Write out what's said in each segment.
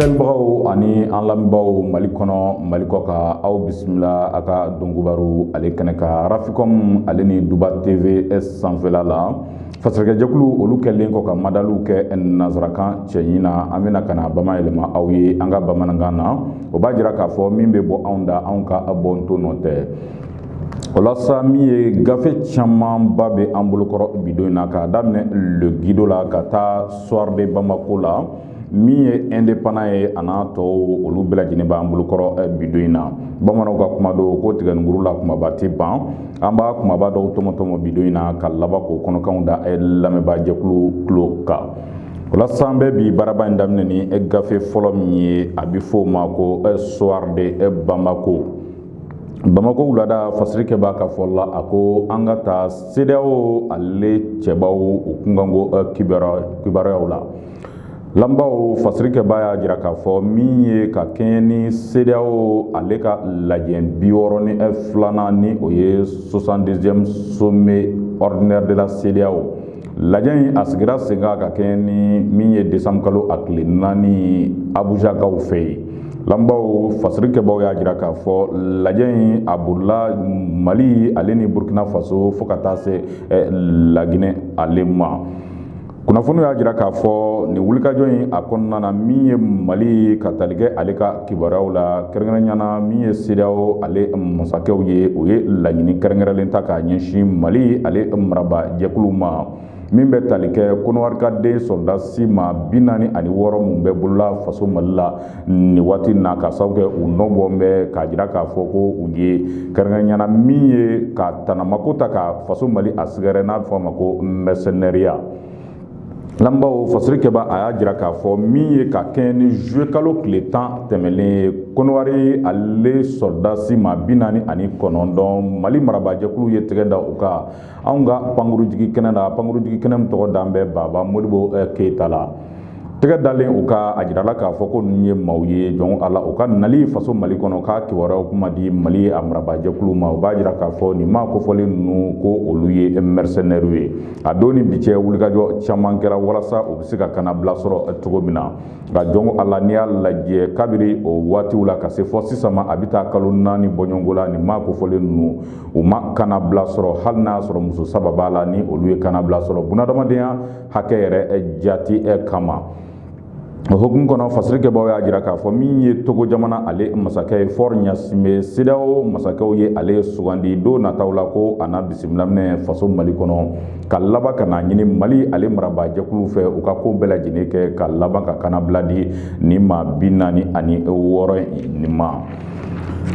filɛbagaw ani an lamɛnbagaw mali kɔnɔ mali kɔkan aw bisimila a ka donkibaru ale kɛnɛ kan arafikɔm ale ni duba tv sanfɛla la fasirikɛjɛkulu olu kɛlen kɔ ka madaliw kɛ nansarakan cɛɲi na an bɛna ka n'a bamayɛlɛma aw ye an ka bamanankan na o b'a jira k'a fɔ min bɛ bɔ anw da anw ka bɔnto nɔ tɛ o la sa min ye gafe camanba bɛ an bolokɔrɔ bi don in na k'a daminɛ le guido la ka taa soir de bamako la min ye indépendant ye a n'a tɔw olu bɛɛ lajɛlen b'an bolokɔrɔ eh, bi don in na bamananw ka kuma don ko tigɛninkuru la kumaba tɛ ban an b'a kumaba dɔw tɔmɔtɔmɔ bi don in na ka laban k'o kɔnɔkanw da eh, lamɛnbaa jɛkulu tulo kan o la sa an bɛ bi baaraba in daminɛ ni eh, gafe fɔlɔ min ye a bɛ fɔ o ma ko soir de bamako bamakɔ wulada fasirikɛbaa ka fɔ la a ko an ka taa sedeyawo ale cɛbaw u kunkanko eh, kibaruyaw la lanbaw fasirikɛbaa y'a jira k'a fɔ min ye ka kɛɲɛ ni sedeyawo ale ka lajɛ bi wɔɔrɔ ni eh, filanan ni o ye 62e sommet ordinaire de la cedeao Lajɛ in a sigira sen ka kɛɲɛ ni min ye desanburu kalo a tile naani abujakaw fɛ yen lanbaw fasirikɛbaw y'a jira k'a fɔ lajɛ in a bolila mali ale ni burukina faso fo ka taa se eh, laginɛ ale ma kunnafoni y'a jira k'a fɔ nin wulikajɔ in a kɔnɔna na min ye mali ka talikɛ ale ka kibaruyaw la kɛrɛnkɛrɛnɲana min ye sedeyawo ale masakɛw ye u ye laɲini kɛrɛnkɛrɛnlen ta ka ɲɛsin mali ale maraba jɛkulu ma min bɛ tali kɛ kɔnɔwari ka den sɔrɔdasi maa bi naani ani wɔɔrɔ minnu bɛ bolo la faso mali la nin waati na ka sababu kɛ u nɔ bɔ bɛ k'a jira k'a fɔ ko u ye kɛrɛnkɛrɛnɲana min ye ka tanamako ta ka faso mali a sɛgɛrɛ n'a bɛ fɔ a ma ko mɛrisɛnɛriya Lanbaw fasirikɛbaa y'a jira k'a fɔ min ye ka kɛɲɛ ni zuluye kalo tile tan tɛmɛnen kɔnɔwari ale sɔrɔdasi maa bi naani ani kɔnɔntɔn mali marabajɛkulu ye tɛgɛ da u kan anw ka pankurunjigikɛnɛ na pankurunjigikɛnɛ min tɔgɔ dalen bɛ baba modibo keyita la tɛgɛ dalen u kan a jirala k'a fɔ ko ninnu ye maaw ye jɔn ko ala u ka nali faso mali kɔnɔ ka kibaruyaw kun ma di mali a marabajɛkulu ma o b'a jira k'a fɔ nin maa kofɔlen ninnu ko olu ye mɛrisɛnɛriw ye A don ni bi cɛ wulikajɔ caman kɛra walasa u bɛ se ka kannabila sɔrɔ cogo min na nka jɔn ko ala n'i y'a lajɛ kabiri o waatiw la ka se fo sisan ma a bɛ taa kalo naani bɔɲɔgɔnko la ni maa kofɔlen ninnu u ma kannabila sɔrɔ hali n'a sɔrɔ muso saba b'a la ni olu ye kannabila sɔrɔ bunadamadenya hakɛ yɛrɛ jate kama o hukumu kɔnɔ fasiri kɛbaaw y'a jira k'a fɔ min ye togo jamana ale masakɛ ye fɔri ɲasinbe sedeyawo masakɛw ye ale sugandi don nataw la ko a na bisimila minɛ faso mali kɔnɔ ka laban ka n'a ɲini mali ale marabaajɛkuluw fɛ u ka ko bɛɛ lajɛlen kɛ ka laban ka kanabila di nin maa bi naani ani wɔɔrɔ nin ma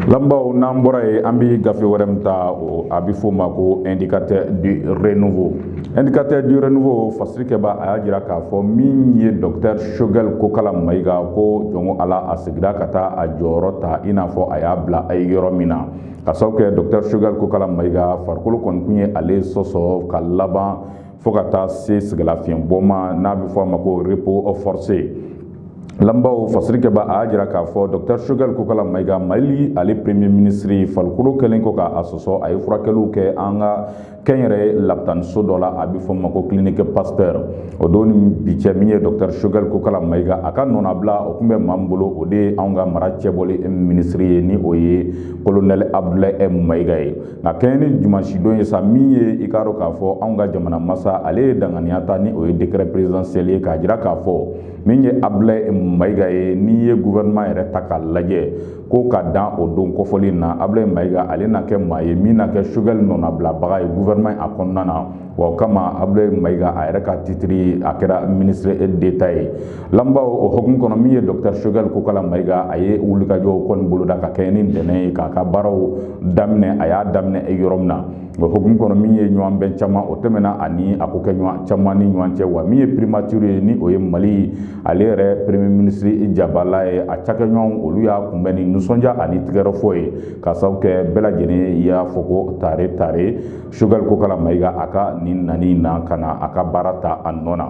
Lamɛnbaaw n'an bɔra yen an bɛ gafe wɛrɛ min ta o a bɛ f'o ma ko indicateur du renouveau indicateur du renouveau fasiri kɛbaa y'a jira k'a fɔ min ye docteur Choguel Kokala Mayiga ko jɔnko Ala a segira ka taa a jɔyɔrɔ ta i n'a fɔ a y'a bila a ye yɔrɔ min na k'a sababu kɛ docteur Choguel Kokala Mayiga farikolo kɔni tun ye ale sɔsɔ ka laban fo ka taa se sɛgɛnlafiɲɛbɔ ma n'a bɛ fɔ a ma ko repos forcé lamɛnbaaw fasiri kɛbaa y'a jira k'a fɔ dɔkitɛri sogɛli kokala mayiga mali ale premier minisiri farikolo kɛlen kɔ k'a sɔsɔ a ye furakɛliw kɛ an ka kɛnyɛrɛ labitaniso dɔ la a bɛ f'o ma ko kilinike pasitɛri o don ni bi cɛ min ye dɔkitɛri sogɛli kokala mayiga a ka nɔnabila o tun bɛ maa min bolo o de ye anw ka mara cɛbɔli minisiri ye ni o ye kolonɛli abudulayi mayiga ye nka kɛɲɛ ni dimansidon ye sa min ye i k'a dɔn k'a fɔ anw ka jamana masa ale ye danganiya ta ni o ye décret présidentiel ye k'a jira k'a fɔ min ye Abulayi Mayiga ye n'i ye gouvernement yɛrɛ ta k'a lajɛ ko ka dan o don kofɔlen in na Abulayi Mayiga ale na kɛ maa ye min na kɛ Sogɛli nɔnabilabaga ye gouvernement a kɔnɔna na wa o kama abulayi mayiga a yɛrɛ ka titiri a kɛra minisiri deta ye lamɛnbaaw o hokumu kɔnɔ min ye dɔkitɛr sogɛli kokala mayiga a ye wulikajɔw kɔni boloda ka kɛɲɛ ni ntɛnɛn ye k'a ka baaraw daminɛ a y'a daminɛ yɔrɔ min na o hokumu kɔnɔ min ye ɲɔgɔn bɛn caman o tɛmɛna ani a kokɛɲɔgɔn caman ni ɲɔgɔn cɛ wa min ye primatiri ye ni o ye mali ale yɛrɛ premier minisiri jabala ye a cakɛɲɔgɔnw olu y'a kunbɛn ni nisɔndiya ani tigɛrɛfɔ ye k'a sababu kɛ bɛɛ lajɛlen y'a fɔ ko tare tare sogɛli kokala mayiga a ka nin nani na ka na a ka baara ta a nɔ na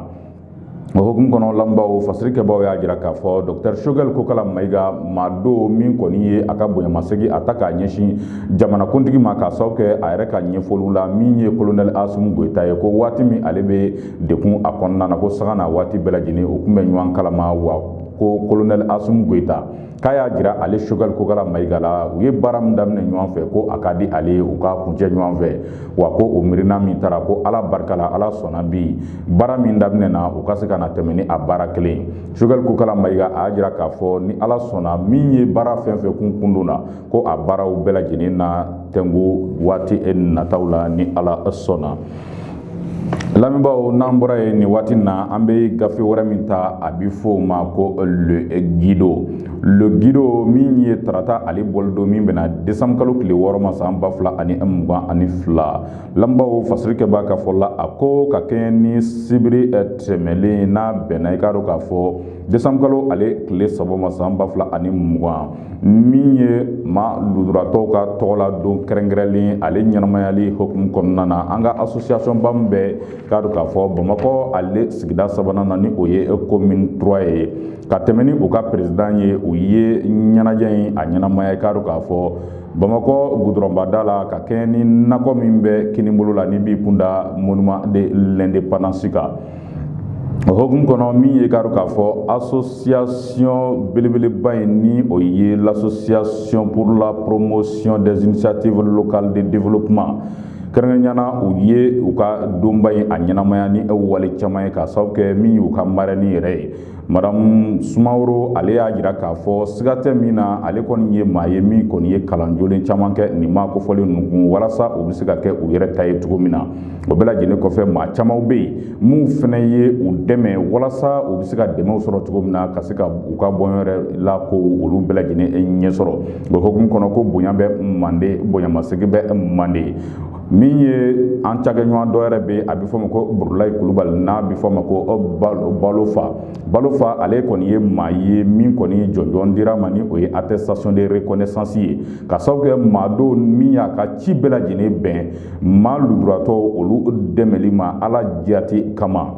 o hokumu kɔnɔ lamɛnbaaw fasiri kɛbaaw y'a jira k'a fɔ dɔktɛr sogɛli kokala mayiga maa don min kɔni ye a ka bonyamasegi a ta k'a ɲɛsin jamanakuntigi ma k'a sababu kɛ a yɛrɛ ka ɲɛfɔliw la min ye kolonɛli asimi goyita ye ko waati min ale bɛ degun a kɔnɔna na ko sanga n'a waati bɛɛ lajɛlen u tun bɛ ɲɔgɔn kalama wa ko kolonɛli asimi goyita k'a y'a jira ale sogɛli kokala mayiga la u ye baara min daminɛ ɲɔgɔn fɛ ko a ka di ale ye u k'a kuncɛ ɲɔgɔn fɛ wa ko o miirina min tara ko ala barika la ala sɔnna bi baara min daminɛna u ka se ka na tɛmɛ ni a baara kelen sogɛli kokala mayiga a y'a jira k'a fɔ ni ala sɔnna min ye baara fɛn fɛn tun kundonna ko a baaraw bɛɛ lajɛlen na tɛnku waati nataw la ni ala sɔnna lamɛnbaaw n'an bɔra yen nin waati na an bɛ gafe wɛrɛ min ta a bɛ fɔ o ma ko le guido le guido min ye tarata ale bɔli don min bɛnna desanburu kalo tile wɔɔrɔ ma san ba fila ani mugan ani fila lamɛnbaaw fasiri kɛ b'a ka fɔ la a ko ka kɛɲɛ ni sibiri tɛmɛlen n'a bɛnna i k'a dɔn k'a fɔ desanburu kalo ale tile saba ma san ba fila ani mugan min ye maa lujuratɔw ka tɔgɔla don kɛrɛnkɛrɛnlen ale ɲɛnamayali hukumu kɔnɔna na an ka asosiyasɔnba min bɛ k'a dɔn k'a fɔ bamakɔ ale sigida sabanan na ni o ye commune trois ye ka tɛmɛ ni u ka perezidan ye u ye ɲɛnajɛ in a ɲɛnamaya k'a dɔn k'a fɔ bamakɔ gudɔrɔnba da la ka kɛɲɛ ni nakɔ min bɛ kininbolo la n'i b'i kun da monument de l'indépendance kan o hokumu kɔnɔ min ye k'a dɔn k'a fɔ association belebeleba in ni o ye l'association pour la promotion des initiatives locales de développement kɛrɛnkɛrɛnya na u ye u ka donba in a ɲɛnamaya ni wale caman ye k'a sababu kɛ min y'u ka marɛni yɛrɛ ye madamu sumaworo ale y'a jira k'a fɔ siga tɛ min na ale kɔni ye maa ye min kɔni ye kalan jolen caman kɛ nin maa kofɔlen ninnu kun walasa u bɛ se ka kɛ u yɛrɛ ta ye cogo min na o bɛɛ lajɛlen kɔfɛ maa camanw bɛ yen minnu fana ye u dɛmɛ walasa u bɛ se ka dɛmɛw sɔrɔ cogo min na ka se ka u ka bɔnɔgɔla ko olu bɛɛ lajɛlen ɲɛ sɔrɔ o hukumu kɔnɔ ko bonya bɛ manden bonyamasegin bɛ manden min ye an cakɛɲɔgɔn dɔ yɛrɛ bɛ a bɛ fɔ ma ko burulayi kulubali n'a bɛ fɔ ma ko balofa balofa ale kɔni ye maa ye min kɔni jɔnjɔn dira a ma ni o ye attestation de reconnaissance ye k'a sababu kɛ maa don min y'a ka ci bɛɛ lajɛlen bɛn maa lujuratɔ olu dɛmɛli ma ala jati kama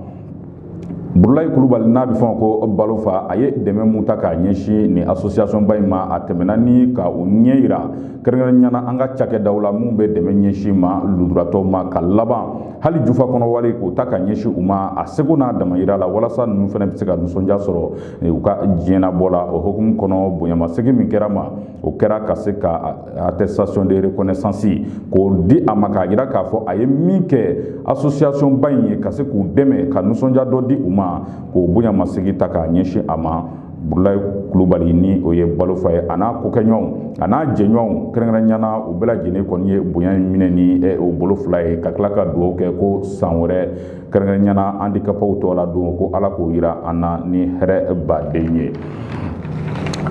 burulayi kulubali n'a bɛ fɔ ko balofa a ye dɛmɛ minnu ta k'a ɲɛsin nin asosiyasɔnba in ma a tɛmɛna ni ka u ɲɛ yira kɛrɛnkɛrɛnya na an ka cakɛdaw la minnu bɛ dɛmɛ ɲɛsin maa lujuratɔw ma ka laban hali jufa kɔnɔ wari k'o ta k'a ɲɛsin u ma a seko n'a damayira la walasa ninnu fana bɛ se ka nisɔndiya sɔrɔ u ka diɲɛnabɔ la o hokumu kɔnɔ bonyamasegin min kɛra a ma o kɛra ka se ka attestation de reconnaissance k'o di a ma k'a jira k'a fɔ a ye min kɛ association ba in ye ka se k'u dɛmɛ ka nisɔndiya dɔ di u ma k'o bonyamasegin ta k'a ɲɛsin a ma burulayi kulubali ni o ye balofa ye a n'a kokɛɲɔgɔnw a n'a jɛɲɔgɔnw kɛrɛnkɛrɛnya na u bɛɛ lajɛlen kɔni ye bonya in minɛ ni u bolo fila ye ka tila ka dugawu kɛ ko san wɛrɛ kɛrɛnkɛrɛnyana andikapaw tɔgɔ la don ko ala k'o yira an na ni hɛrɛ baden ye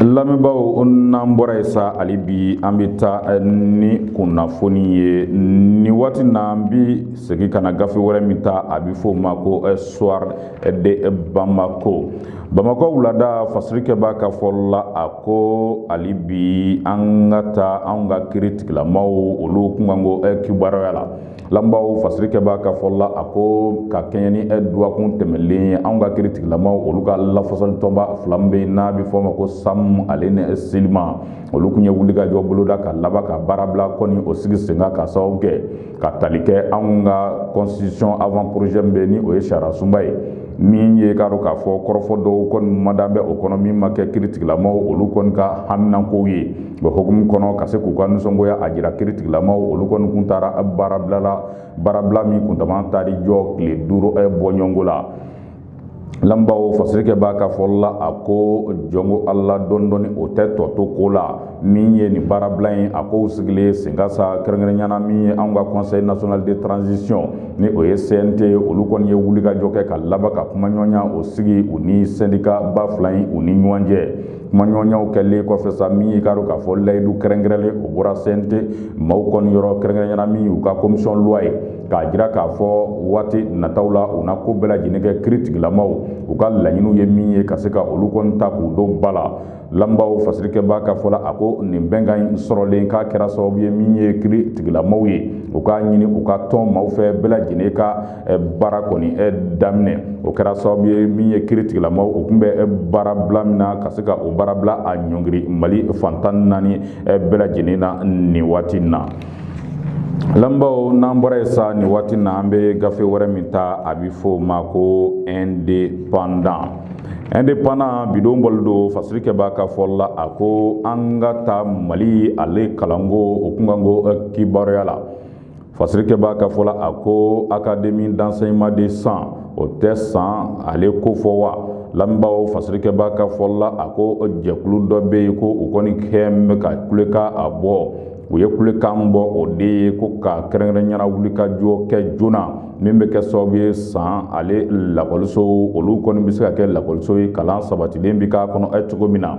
lamɛnbaaw n'an bɔra yen sa hali bi an bɛ taa eh, ni kunnafoni ye ni waati na an bɛ segin ka na gafe wɛrɛ min ta a bɛ f'o ma ko eh, soir de bamako bamakɔ wulada fasirikɛbaa ka fɔ la a ko hali bi an ka taa anw ka kiritigilamaw olu kunkanko eh, kibaruya la Lamɛnbaaw fasirikɛbaa ka fɔ la a ko ka kɛɲɛ ni ɛ dɔgɔkun tɛmɛnlen ye anw ka kiritigilamaw olu ka lafasalitɔnba fila bɛ yen n'a bɛ fɔ a ma ko samu ale ni silima olu tun ye wulikajɔ boloda ka laban ka baarabila kɔni o sigi senkan ka sababu kɛ ka tali kɛ anw ka constitution avant-projet bɛ ni o ye sariyasunba ye min ye k'a dɔn k'a fɔ kɔrɔfɔ dɔw kɔni mada bɛ o kɔnɔ min ma kɛ kiritigilamaw olu kɔni ka haminanko ye Bon hukumu kɔnɔ ka se k'u ka nisɔngoya a jira kiritigilamaw olu kɔni tun taara baarabila la baarabila min kuntaa taar'i jɔ tile duuru bɔɲɔgɔnko la lamɛnbaaw fasirikɛbaa ka fɔ la a ko jɔn ko ala dɔɔnin dɔɔnin o tɛ tɔ to ko la min ye nin baarabila in a ko sigilen senkan sa kɛrɛnkɛrɛnyana min ye an ka conseil national de transition ni o ye CNT ye olu kɔni ye wulikajɔ kɛ ka laban ka kumaɲɔgɔnya o sigi u ni sɛndikaba fila in u ni ɲɔgɔn cɛ Kumaɲɔgɔnyaw kɛlen kɔfɛ sa min y'i k'a dɔn k'a fɔ layidu kɛrɛnkɛrɛnlen o bɔra CNT maaw kɔni yɔrɔ kɛrɛnkɛrɛnyana min u ka commission loi ye k'a jira k'a fɔ waati nataw la u na ko bɛɛ lajɛlen kɛ kiritigilamaw u ka laɲiniw ye min ye ka se ka olu kɔni ta k'u don ba la lamɛnbaaw fasirikɛbaa ka fɔ la a ko nin bɛnkan in sɔrɔlen k'a kɛra sababu ye min ye kiritigilamaw ye u k'a ɲini u ka tɔn maaw fɛ bɛɛ lajɛlen ka baara kɔni daminɛ o kɛra sababu ye min ye kiritigilamaw o tun bɛ baarabila min na ka se ka o baarabila a ɲɔngiri mali fan tan naani bɛɛ lajɛlen na nin waati na lamɛnbaaw n'an bɔra yen sa nin waati na an bɛ gafe wɛrɛ min ta a bɛ fɔ o ma ko indépendant indépendant bi don bɔlen don fasirikɛbaa ka fɔ la a ko an ka taa mali ale kalanko o kunkanko kibaruya la fasirikɛbaa ka fɔ la a ko académie d'enseignement de san o tɛ san ale ko fɔ wa lamɛnbaaw fasirikɛbaa ka fɔ la a ko jɛkulu dɔ bɛ yen ko u kɔni kɛlen bɛ ka kulekan a bɔ u ye kulekan bɔ o de ye ko ka kɛrɛnkɛrɛnyana wulikajɔ kɛ joona min bɛ kɛ sababu ye san ale lakɔlisow olu kɔni bɛ se ka kɛ lakɔliso ye kalan sabatilen bɛ k'a kɔnɔ cogo min na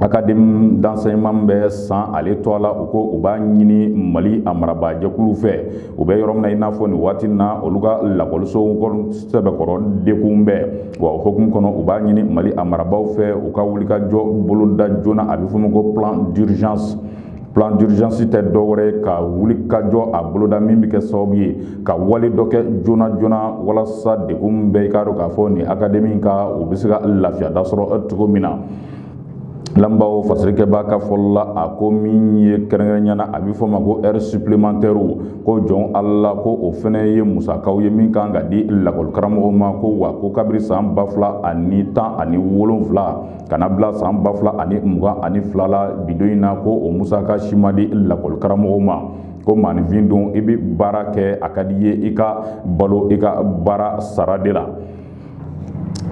académie d'enseignement bɛ san ale tɔgɔ la u ko u b'a ɲini mali a marabaajɛkulu fɛ u bɛ yɔrɔ min na i n'a fɔ nin waati na olu ka lakɔlisow sɛbɛkɔrɔ degunnen bɛ wa o hokumu kɔnɔ u b'a ɲini mali a marabaaw fɛ u ka wulikajɔ boloda joona a bɛ f'o ma ko plan d'urgence plan d'urgence tɛ dɔwɛrɛ ye ka wulikajɔ a boloda min bɛ kɛ sababu ye ka wale dɔ kɛ joona joona walasa degun min bɛ i k'a dɔn k'a fɔ nin akademi kan o bɛ se ka lafiya da sɔrɔ cogo min na lamɛnbaaw fasirikɛbaa ka fɔli la a ko min ye kɛrɛnkɛrɛnya na a bɛ f'o ma ko heures supplémentaires ko jɔn ala ko o fana ye musakaw ye min kan ka di lakɔlikaramɔgɔw ma ko wa ko kabiri san ba fila ani tan ani wolonfila ka na bila san 2022 la bi don in na ko o musaka si ma di lakɔli karamɔgɔw ma ko maaninfin don i bɛ baara kɛ a ka di i ye i ka balo i ka baara sara de la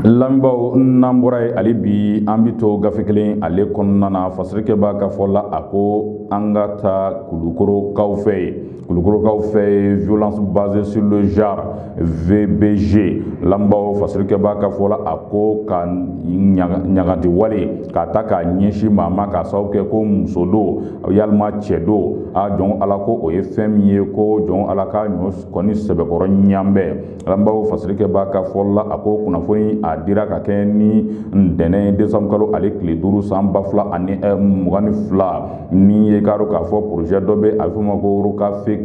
lamɛnbaaw n'an bɔra yen hali bi an bɛ to gafe kelen ale kɔnɔna na fasirikɛbaa ka fɔ la a ko an ka taa kulukorokaw fɛ yen Kulukorokaw fɛ yen violence basée sur le genre VBG lamɛnbaaw fasirikɛbaa ka fɔ la a ko ka ɲagati wale k'a ta k'a ɲɛsin maa ma k'a sababu kɛ ko muso don yalima cɛ don a jɔn ko ala ko o ye fɛn min ye ko jɔn ko ala ka ɲɔ kɔni sɛbɛkɔrɔ ɲanbɛn Lamɛnbaaw fasirikɛbaa ka fɔ la a ko kunnafoni a dira ka kɛ ni ntɛnɛn desanburukalo ale tile duuru san ba fila ani mugan ni fila min ye i k'a dɔn k'a fɔ porozɛ dɔ bɛ a f'o ma ko rokafefɛg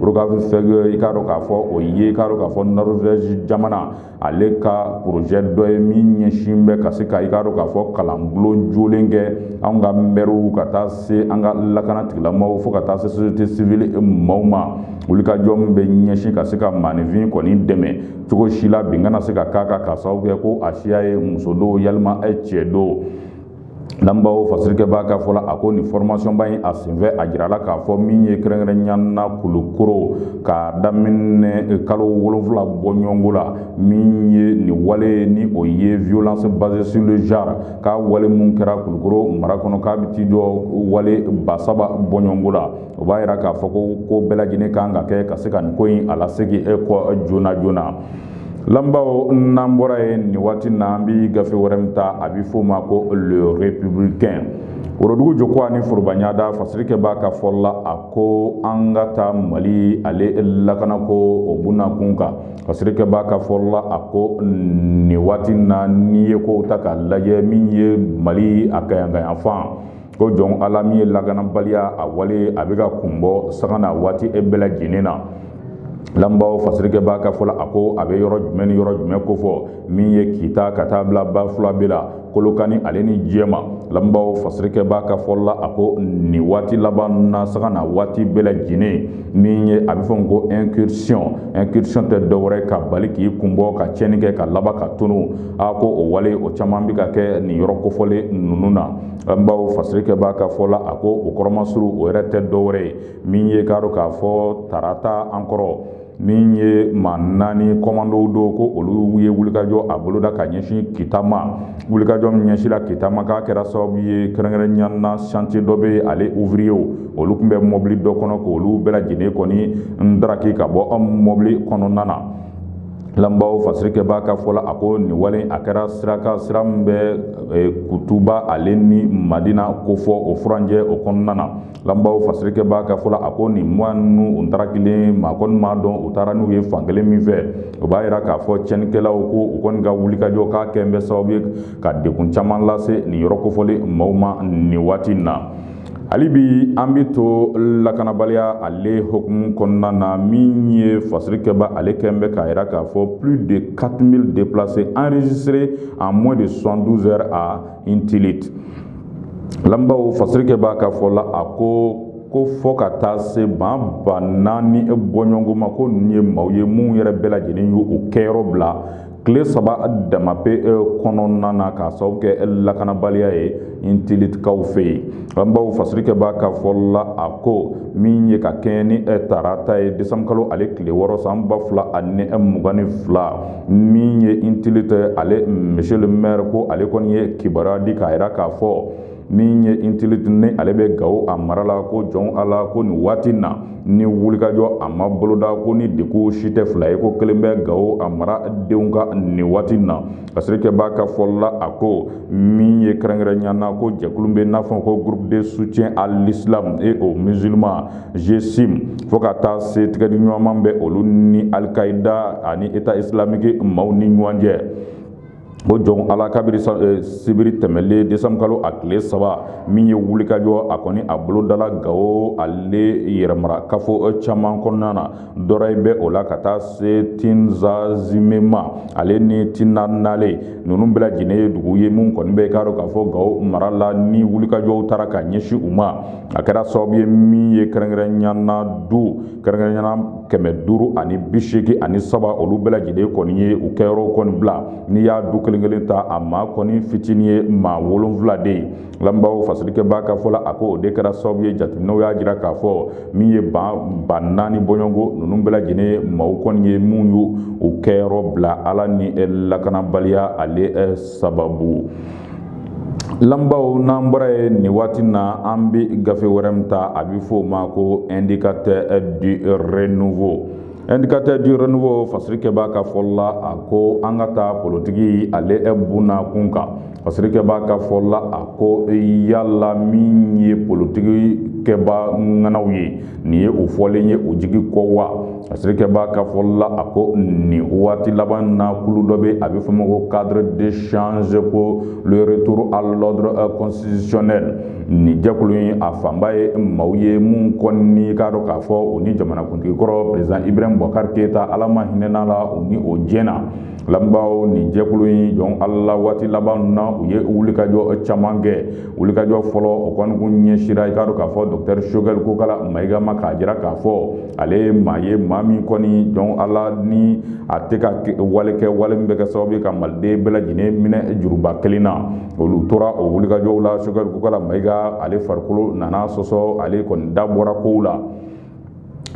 rokafefɛg i k'a dɔn k'a fɔ o ye i k'a dɔn k'a fɔ Norvège jamana ale ka porozɛ dɔ ye min ɲɛsin bɛ ka se ka i k'a dɔn k'a fɔ kalanbulon jɔlen kɛ an ka mɛriw ka taa se an ka lakana tigilamaaw fo ka taa se société civile maaw ma wulikajɔ min bɛ ɲɛsin ka se ka maaninfin kɔni dɛmɛ cogo si la bin kana se ka k'a kan k'a sababu kɛ ko a siya ye muso don yalima cɛ don Lamɛnbaaw fasirikɛbaa ka fɔ la a ko nin formation ba in a senfɛ a jirala k'a fɔ min ye kɛrɛnkɛrɛnya na kulukoro ka daminɛ kalo wolonfila bɔɲɔgɔnko la min ye nin wale ye ni o ye violence basée sur le genre k'a wale minnu kɛra kulukoro mara kɔnɔ k'a bɛ t'i jɔ wale ba saba bɔɲɔgɔnko la o b'a jira k'a fɔ ko ko bɛɛ lajɛlen kan ka kɛ ka se ka nin ko in a lasegin kɔ joona joona na Lamɛnbaaw n'an bɔra yen nin waati na an bɛ gafe wɛrɛ min ta a bɛ f'o ma ko le républicain worodugu joko ani forobaɲada fasirikɛbaa ka fɔ la a ko an ka taa mali ale lakanako o bunnakun kan fasirikɛbaa ka fɔ la a ko nin waati na n'i ye kow ta ka lajɛ min ye mali a kaɲagayanfan ko jɔn ala min ye lakanabaliya a wale a bɛ ka kun bɔ sanga ni waati bɛɛ lajɛlen na lamɛnbaaw fasirikɛbaa ka fɔ la a ko a bɛ yɔrɔ jumɛn ni yɔrɔ jumɛn kofɔ min ye kita ka taa bila bafulabɛ la kolokani ale ni jɛma lamɛnbaaw fasirikɛbaa ka fɔ la a ko nin waati laban na sanga ni waati bɛɛ lajɛlen min ye a bɛ fɔ ko incursion incursion tɛ dɔwɛrɛ ka bali k'i kun bɔ ka cɛnni kɛ ka laban ka tunun a ko o wale o caman bɛ ka kɛ nin yɔrɔ kofɔlen ninnu na an baw fasirikɛbaa ka fɔ la a ko o kɔrɔ masuru o yɛrɛ tɛ dɔwɛrɛ ye min ye k'a dɔn k'a fɔ tarata an kɔrɔ min ye maa naani kɔmandow do ko olu ye wulikajɔ a boloda ka ɲɛsin kita ma wulikajɔ min ɲɛsinna kita ma k'a kɛra sababu ye kɛrɛnkɛrɛnnenya na chantier dɔ bɛ yen ale ouvrierw olu tun bɛ mɔbili dɔ kɔnɔ k'olu bɛɛ lajɛlen kɔni ndaraki ka bɔ an mɔbili kɔnɔna na Lamɛnbaaw fasirikɛbaa ka fɔ la a ko nin wale a kɛra sira kan sira min bɛ e, kutuba ale ni madina ko fɔ o furancɛ o kɔnɔna na lamɛnbaaw fasirikɛbaa ka fɔ la a ko nin maa ninnu u taara kelen maa kɔni m'a dɔn u taara n'u ye fan kelen min fɛ o b'a jira k'a fɔ cɛnnikɛlaw ko u kɔni ka wulikajɔ k'a kɛlen bɛ sababu ye ka degun caman lase nin yɔrɔ kofɔlen maaw ma nin waati in na Hali bi an bɛ to lakanabaliya ale hukumu kɔnɔna na min ye fasirikɛbaa ale kɛlen bɛ k'a jira k'a fɔ plus de quatre mille déplacés enregistrés en moins de soixante-douze heures à intilite lamɛnbaaw fasirikɛbaa ka fɔ la a ko ko fo ka taa se maa ba naani bɔɲɔgɔnko ma ko nin ye maaw ye minnu yɛrɛ bɛɛ lajɛlen ye u kɛyɔrɔ bila tile saba dama pe e, kɔnɔna na k'a sababu kɛ e, lakanabaliya ye intilitikaw fɛ yen lamɛnbaaw fasirikɛbaa ka fɔ la a ko min ye ka kɛɲɛ ni e, tarata ye desanburukalo ale tile wɔɔrɔ san ba fila ani mugan ni fila min ye intilite ale monsieur le maire ko ale kɔni ye kibaruya di k'a jira k'a fɔ min ye intilite ni ale bɛ gawo a mara la ko jɔn a la ko nin waati na ni wulikajɔ a ma boloda ko nin degun si tɛ fila ye ko kelen bɛ gawo a maradenw kan nin waati na fasirikɛbaa ka fɔ la a ko min ye kɛrɛnkɛrɛnya na ko jɛkulu bɛ n'a fɔ ko groupe de soutien à l'islam et aux musulmans GSIM fo ka taa se tɛgɛdiɲɔgɔnma bɛ olu ni alikaida ani état islamique maaw ni ɲɔgɔn cɛ o jɔn ala kabiri eh, sibiri tɛmɛlen desanburukalo a tile saba min ye wulikajɔ a kɔni a bolodala gawo ale yɛrɛ mara kafo eh, caman kɔnɔna na dɔrɔyi bɛ o la ka taa se tinzazime ma ale ni tinanale ninnu bɛɛ lajɛlen ye dugu ye min kɔni bɛ k'a dɔn k'a fɔ gawo mara la ni wulikajɔw taara ka ɲɛsin u ma a kɛra sababu ye min ye kɛrɛnkɛrɛnnenya na du kɛrɛnkɛrɛnya na kɛmɛ duuru ani bi seegin ani saba olu bɛɛ lajɛlen kɔni ye u kɛyɔrɔw kɔni bila n'i y'a du kelen kelen ta a maa kɔni fitinin ye maa wolonfila de ye lamɛnbaaw fasilikɛbaa ka fɔ la a ko o de kɛra sababu ye jateminɛw y'a jira k'a fɔ min ye maa ba naani bɔɲɔgɔnko ninnu bɛɛ lajɛlen ye maaw kɔni ye minnu y'u kɛyɔrɔ bila a la nin lakanabaliya ale sababu Lamɛnbaaw n'an bɔra ye nin waati na an bɛ gafe wɛrɛ min ta a bɛ fɔ o ma ko indicateur du renouveau indicateur du renouveau fasirikɛbaa ka fɔli la a ko an ka taa politiki ale bunna kunkan fasirikɛbaa ka fɔli la a ko yala min ye politiki kɛbaa ŋanaw ye nin ye o fɔlen ye o jigi kɔ wa Fasirikɛbaa ka fɔ la a ko nin waati laban na kulu dɔ bɛ a bɛ fɔ ma ko cadre d'échange pour le retour à l'ordre constitutionnel nin jɛkulu in a fanba ye maaw ye minnu kɔni i k'a dɔn k'a fɔ u ni jamanakuntigikɔrɔ président ibrahim bubakari keyita ala ma hinɛna la u ni o jɛnna lamɛnbaaw nin jɛkulu in jɔn ala la waati laban na u ye wulikajɔ caman kɛ wulikajɔ fɔlɔ o kɔni kun ɲɛsira i k'a dɔn k'a fɔ dɔktɛri sogɛli kokala mayiga ma k'a jira k'a fɔ ale ye maa ye maa min kɔni jɔn ala ni a tɛ ka wale kɛ wale min bɛ kɛ sababu ye ka maliden bɛɛ lajɛlen minɛ juruba kelen na olu tora o wulikajɔw la sogɛli kokala mayiga ale farikolo nana sɔsɔ ale kɔni da bɔra kow la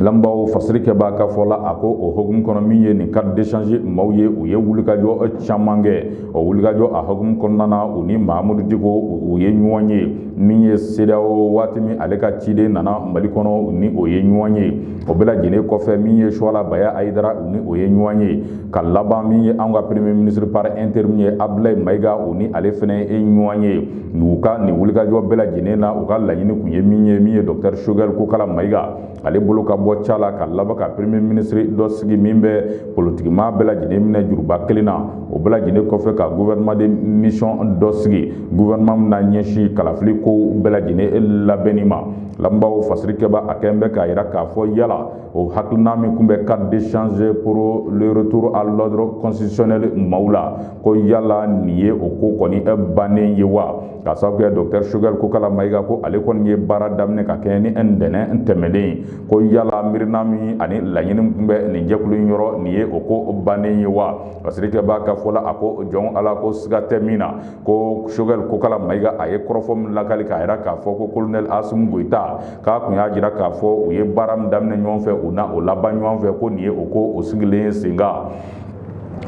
lamɛnbaaw fasiri kɛbaa ka fɔ la a ko o hukumu kɔnɔ min ye nin cadre d'échange maaw ye u ye wulikajɔ caman kɛ o wulikajɔ a hukumu kɔnɔna na u ni mahamudu diko u ye ɲɔgɔn ye min ye CEDEAO waati min ale ka ciden nana mali kɔnɔ u ni o ye ɲɔgɔn ye o bɛɛ lajɛlen kɔfɛ min ye suwala baya ayidara u ni o ye ɲɔgɔn ye ka laban min ye anw ka premier ministre par intérim ye abdulayi mayiga u ni ale fɛnɛ ye ɲɔgɔn ye u ka nin wulikajɔ bɛɛ lajɛlen na u ka laɲini tun ye min ye min ye dɔktɛri sogɛli kokala mayiga ale bolo ka bɔ ca la ka laban ka premier minisiri dɔ sigi min bɛ politikimaa bɛɛ lajɛlen minɛ juruba kelen na o bɛɛ lajɛlen kɔfɛ ka gouvernement de mission dɔ sigi gouvernement min na ɲɛsin kalafili kow bɛɛ lajɛlen labɛnni ma lamɛnbaaw fasiri kɛbaa a kɛn bɛ k'a yira k'a fɔ yala o hakilina min tun bɛ cadre d'échange pour le retour à l'ordre constitutionnel maaw la ko yala nin ye o ko kɔni bannen ye wa ka sababu kɛ dɔkitɛri sogɛli kokala mayiga ko ale kɔni ye baara daminɛ ka kɛɲɛ ni ntɛnɛn tɛmɛnen ye ko yala miirina min ani laɲini tun bɛ nin jɛkulu in yɔrɔ nin ye o ko bannen ye wa fasirikɛbaa ka fɔ la a ko jɔn ala ko siga tɛ min na ko sogɛli kokala mayiga a ye kɔrɔfɔ min lakali k'a yira k'a fɔ ko kolonɛli asimi goyita k'a tun y'a jira k'a fɔ u ye baara min daminɛ ɲɔgɔn fɛ u na o laban ɲɔgɔn fɛ ko nin ye o ko o sigilen ye senkan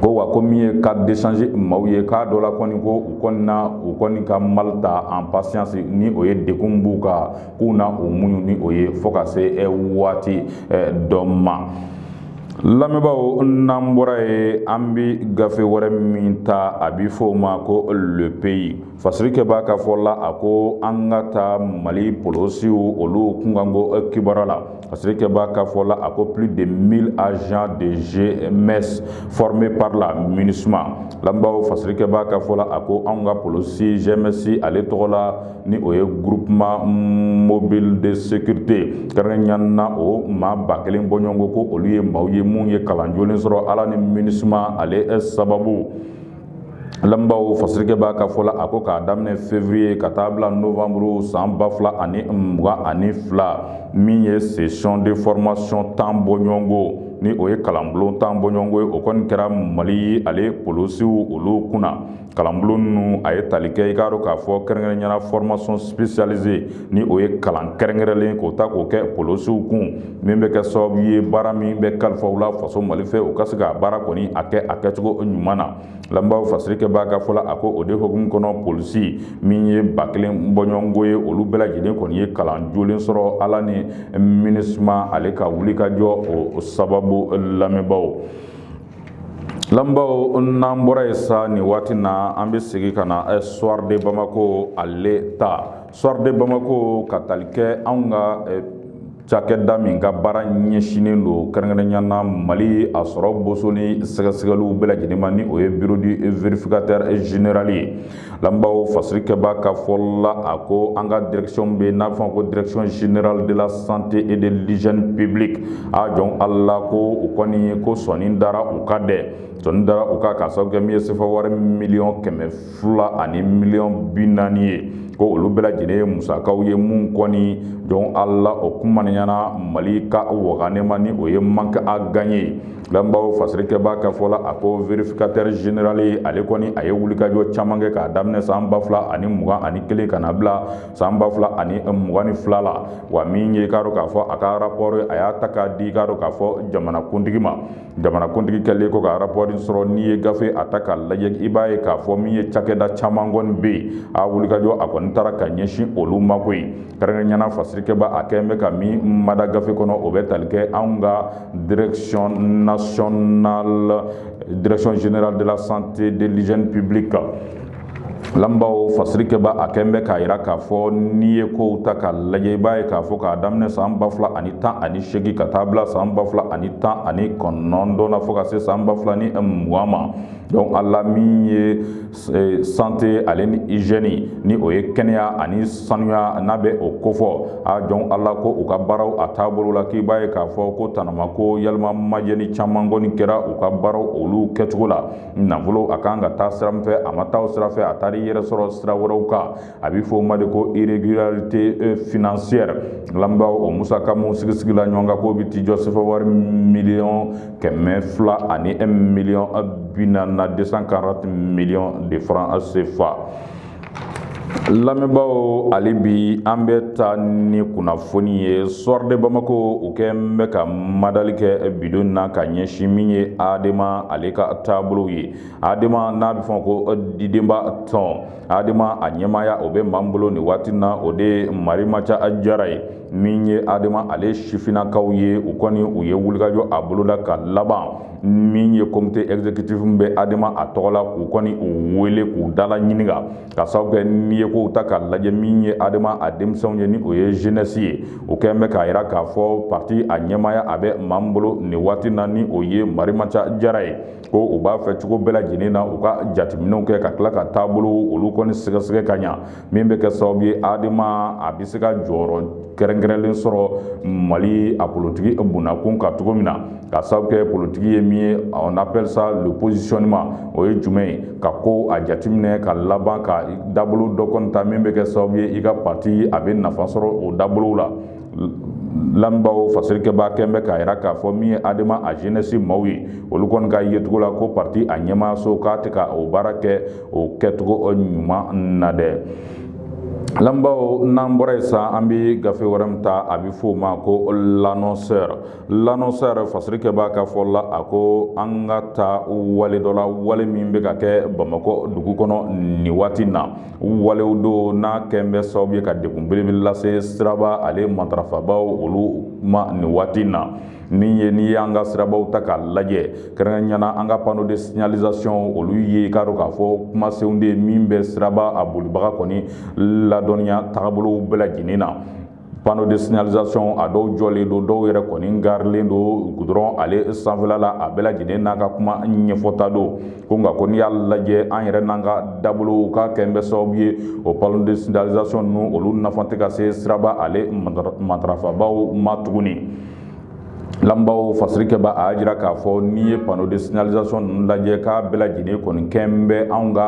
ko wa ko min ye cadre d'échange maaw ye k'a dɔ la kɔni ko u kɔni na u kɔni ka mal ta en patience ni o ye degun b'u kan k'u na o muɲu ni o ye fo ka se eh, waati eh, dɔ ma lamɛnbaaw n'an bɔra ye an bi gafe wɛrɛ min ta a bi fɔ o ma ko le pays Fasirikɛbaa ka fɔ la a ko an ka taa mali polosiw olu kunkanko kibaru la fasirikɛbaa ka fɔ la a ko plus de mille agents de GMS formés par la MINUSMA lamɛnbaaw fasirikɛbaa ka fɔ la a ko an ka polosi GMS ale tɔgɔ la ni o ye groupement mobile de sécurité kɛrɛnkɛrɛnya na o maa ba kelen bɔɲɔgɔnko ko olu ye maaw ye minnu ye kalan jolen sɔrɔ ala ni MINUSMA ale sababu lamɛnbaaw fasirikɛbaa ka fɔ la a ko k'a daminɛ février ka taa bila novembre san ba fila ani mugan ani fila min ye session de formation tan bɔɲɔgɔnko ni o ye kalanbulon tan bɔɲɔgɔnko ye o kɔni kɛra mali ale polosiw olu kunna kalanbulon ninnu a ye tali kɛ i k'a dɔn k'a fɔ kɛrɛnkɛrɛnyana formation spécialisée ni o ye kalan kɛrɛnkɛrɛnlen k'o ta k'o kɛ polosiw kun min bɛ kɛ sababu ye baara min bɛ kalifa u la faso mali fɛ u ka se ka baara kɔni a kɛ a kɛcogo ɲuman na lamɛnbaaw fasirikɛbaa ka fɔ la a ko o de hukumu kɔnɔ polisi min ye ba kelen bɔɲɔgɔnko ye olu bɛɛ lajɛlen kɔni ye kalan jolen sɔrɔ ala ni MINUSMA ale ka wulikajɔ o sababu lamɛnbaaw lamɛnbaaw n'an bɔra yen sa nin waati na an bɛ segin ka na soir de Bamako ale ta soir de Bamako ka tali kɛ anw ka eh, cakɛda min ka baara ɲɛsinnen don kɛrɛnkɛrɛnya na mali a sɔrɔ boso ni sɛgɛsɛgɛliw bɛɛ lajɛlen ma ni o ye bureau du vérificateur général ye lamɛnbaaw fasirikɛbaa ka fɔ la a ko an ka direction bɛ n'a bɛ f'a ma ko direction générale de la santé et de l'hygiène publique a jɔn ala ko u kɔni ko sɔni dara u kan dɛ sɔni dara u kan k'a sababu kɛ min ye sefa wari miliyɔn kɛmɛ fila ani miliyɔn bi naani ye ko olu bɛɛ lajɛlen ye musakaw ye min kɔni jɔn ala o kumaniyana mali ka waganema ni o ye manque à gagner ye lamɛnbaaw fasirikɛbaa ka fɔ la a ko vérificateur général ye ale kɔni a ye wulikajɔ caman kɛ k'a daminɛ san ba fila ani mugan ani kelen ka na bila san ba fila ani mugan ni fila la wa min ye k'a dɔn k'a fɔ a ka rapport a y'a ta k'a di k'a dɔn k'a fɔ jamanakuntigi ma jamanakuntigi kɛlen kɔ ka rapport sɔrɔ n'i ye gafe a ta k'a lajɛ i b'a ye k'a fɔ min ye cakɛda caman kɔni bɛ yen a wulikajɔ a kɔni taara ka ɲɛsin olu ma ko ye kɛrɛnkɛrɛnyana fasirikɛba a kɛlen bɛ ka min mada gafe kɔnɔ o bɛ tali kɛ anw ka direction nationale direction générale de la santé de l'hygiène publique lamɛnbaaw fasirikɛba a kɛlen bɛ k'a yira k'a fɔ n'i ye kow ta k'a lajɛ i b'a ye k'a fɔ k'a daminɛ san ba fila ani tan ani seegin ka taa bila san ba fila ani tan ani kɔnɔntɔn na fo ka se san ba fila ni mugan ma donc ala min ye eh, santé ale ni hygiène ni o ye kɛnɛya ani sanuya n'a bɛ o kofɔ a jɔn ala ko u ka baaraw a taabolo la k'i b'a ye k'a fɔ ko tanama ko yalima majɛni caman kɔni kɛra u ka baaraw olu kɛcogo la nafolo a kan ka taa sira min fɛ a ma taa o sira fɛ a taara i yɛrɛ sɔrɔ sira wɛrɛw kan a bɛ fɔ o ma de ko irrégularité euh, financière lamɛnbaaw o musaka minnu sigisigila ɲɔgɔn kan k'o bɛ t'i jɔ sefa wari miliyɔn kɛmɛ fila ani miliyɔn bi naani na deux cent quarante miliyɔn de francs CFA lamɛnbaaw ale bi an bɛ taa ni kunnafoni ye soir de bamako u kɛn bɛ ka madali kɛ bi don na ka ɲɛsin min ye adema ale ka taabolo ye adema n'a bɛ f'a ma ko didenba tɔn adema a ɲɛmaaya o bɛ maa min bolo nin waati na o de marimaca jara ye min ye adema ale sifinakaw ye u kɔni u ye wulikajɔ a boloda ka laban min ye comité exécutif min bɛ adema a tɔgɔ la k'u kɔni u wele k'u dala ɲininka ka sababu kɛ n'i ye kow ta k'a lajɛ min ye adema a denmisɛnw ye ni o ye jeunesse ye u kɛn bɛ k'a jira k'a fɔ parti a ɲɛmaaya a bɛ maa min bolo nin waati na ni o ye marimaca jara ye ko u b'a fɛ cogo bɛɛ lajɛlen na u ka jateminɛw kɛ ka tila ka taabolo olu kɔni sɛgɛsɛgɛ ka ɲa min bɛ kɛ sababu ye adema a bɛ se ka jɔyɔrɔ kɛrɛnkɛrɛnlen sɔrɔ mali a politigi bonnakun ka cogo min na ka sababu kɛ politigi ye min ye on appelle ça le positionnement o ye jumɛn ye ka ko a jateminɛ ka laban ka dabolo dɔ kɔni ta min bɛ kɛ sababu ye i ka parti a bɛ nafa sɔrɔ o dabolow la lamɛnbaaw fasirikɛbaa kɛn bɛ k'a jira k'a fɔ min ye adema a jeunesse maaw ye olu kɔni ka yecogo la ko parti a ɲɛmaayaso k'a tɛ ka o baara kɛ o kɛcogo ɲuman na dɛ Lamɛnbaaw n'an bɔra yen san an bɛ gafe wɛrɛ min ta a bɛ fɔ o ma ko l'annonceur l'annonceur fasirikɛbaa ka fɔ la a ko an ka taa wale dɔ la wale min bɛ ka kɛ Bamakɔ dugu kɔnɔ nin waati in na walew don n'a kɛn bɛ sababu ye ka degun belebele lase siraba ale matarafabaaw olu ma nin waati in na. min ye n'i y'an ka sirabaw ta k'a lajɛ kɛrɛnkɛrɛnya na an ka panneau de signalisation olu ye i k'a dɔn k'a fɔ kumasen de min bɛ siraba a bolibaga kɔni ladɔnniya tagabolow bɛɛ lajɛlen na panneau de signalisation a dɔw jɔlen don dɔw yɛrɛ kɔni garilen don gudɔrɔn ale sanfɛla la a bɛɛ lajɛlen n'a ka kuma ɲɛfɔta don ko nka ko n'i y'a lajɛ an yɛrɛ n'an ka dabolow k'a kɛn bɛ sababu ye o panneau de signalisation ninnu olu nafa tɛ ka se siraba ale matarafabaw ma tuguni Lamɛnbaaw fasirikɛbaa y'a jira k'a fɔ n'i ye panneau de signalisation ninnu lajɛ k'a bɛɛ lajɛlen kɔni kɛn bɛ anw ka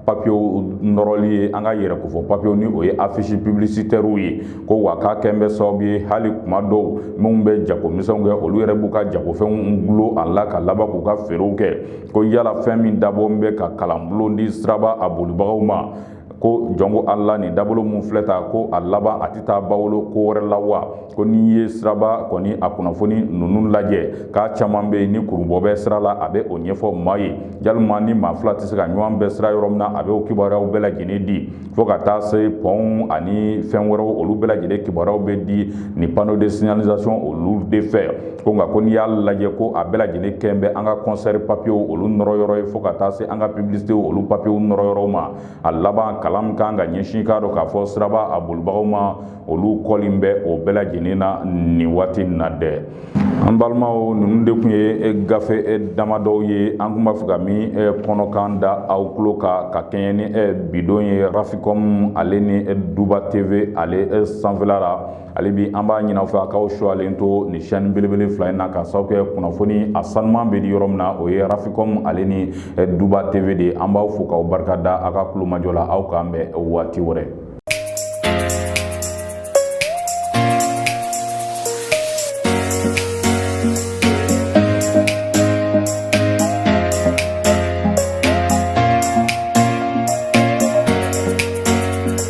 papiye nɔrɔli ye an ka yɛrɛkofɔ papiyew ni o ye affiche publicitairew ye ko wa k'a kɛn bɛ sababu ye hali kuma dɔw minnu bɛ jagomisɛnw kɛ olu yɛrɛ b'u ka jagofɛnw dulon a la ka laban k'u ka feerew kɛ ko yala fɛn min dabɔn bɛ ka kalanbulon di siraba a bolibagaw ma ko jɔn ko ala nin dabolo min filɛ tan ko a laban a tɛ taa bawolo ko wɛrɛ la wa ko n'i ye siraba kɔni a kunnafoni ninnu lajɛ k'a caman bɛ yen ni kurubɔ bɛ sira la a bɛ o ɲɛfɔ maa ye walima ni maa fila tɛ se ka ɲɔgɔn bɛn sira yɔrɔ min na a bɛ o kibaruyaw bɛɛ lajɛlen di fo ka taa se pɔnw ani fɛn wɛrɛw olu bɛɛ lajɛlen kibaruyaw bɛ di nin panneau de signalisation olu de fɛ ko nka ko n'i y'a lajɛ ko a bɛɛ lajɛlen kɛn bɛ an ka kɔnsɛri papiyew olu nɔrɔ yɔrɔ ye fo ka taa se an ka pibilisitew olu papiyew nɔrɔ yɔrɔw ma a laban kalan min ka kan ka ɲɛsin k'a dɔn k'a fɔ siraba a bolibagaw ma olu kɔlen bɛ o bɛɛ lajɛlen na nin waati na dɛ an balimaw ninnu de tun ye gafe damadɔw ye an tun b'a fɛ ka min kɔnɔkan da aw tulo kan ka kɛɲɛ ni bi don ye rafikɔmu ale ni duba teve ale sanfɛla la hali bi an b'a ɲin'aw fɛ a k'aw suwalen to nin chaîne belebele fila in na ka sababu kɛ kunnafoni a sanuman bɛ di yɔrɔ min na o ye rafikɔmu ale ni eh, duba tv de ye an b'aw fo k'aw barika da aw ka tulomajɔ la aw k'an bɛn waati wɛrɛ